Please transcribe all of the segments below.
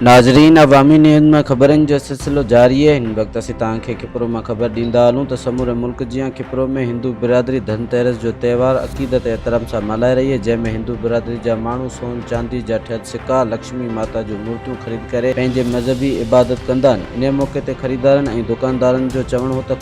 ناظرين عوامي نيوز مان خبرن جو سلسلو جاري آهي هن وقت اسين توهان کي کپرو مان خبر ڏيندا هلون ته سموري ملڪ جيان کپرو ۾ هندو برادري ڌن تيرس جو تهوار عقيدت ۽ احترام سان ملهائي رهي آهي جنهن ۾ هندو برادري جا ماڻهو سون چاندي جا ٺهيل سڪا لڪشمي ماتا جون مورتيون خريد ڪري پنهنجي مذهبي عبادت ڪندا آهن انهي موقعي تي خريدارن ۽ دوڪاندارن جو چوڻ هو ته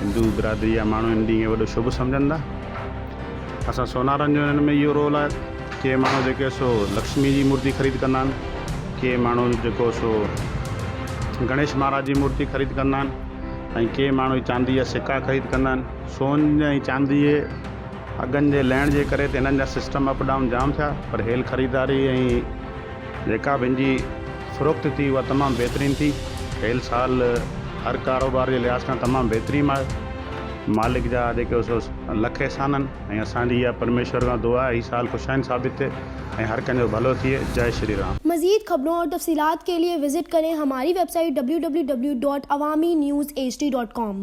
هندو برادري جا ماڻهو هن ڏينهن کي وڏو شڀ سمجهن ٿا. اسان سونارن جو هنن ۾ اهو رول آهي ڪي ماڻهو جيڪي سو لڪشمي جي مورتي خريد ڪندا آهن ڪي ماڻهو جيڪو سو گڻيش مهاراج جي مورتي خريد ڪندا آهن ۽ ڪي ماڻهو چاندي جا سڪا خريد ڪندا آهن سون ۽ چاندي جي اگهن جي لهڻ جي ڪري ته هنن جا سسٽم اپ ڊائون جام ٿيا پر هيل خريداري ۽ جيڪا به هن جي فروخت ٿي اها تمام بهترين ٿي ڪيل سال هر ڪاروبار جي لحاظ کان تمام بهترين آهي مالڪ جا جيڪي سو لک احسان آهن ۽ اسان جي اها پرميشور کان دعا آهي هي سال خوشائن ثابت ٿئي ۽ هر ڪنهن جو ڀلو ٿئي جئي شري رام. مزيد خبرون اور تفصيلات کے لئے وزٽ کریں ہماری ويب سائيٽ www.awaminews hd.com.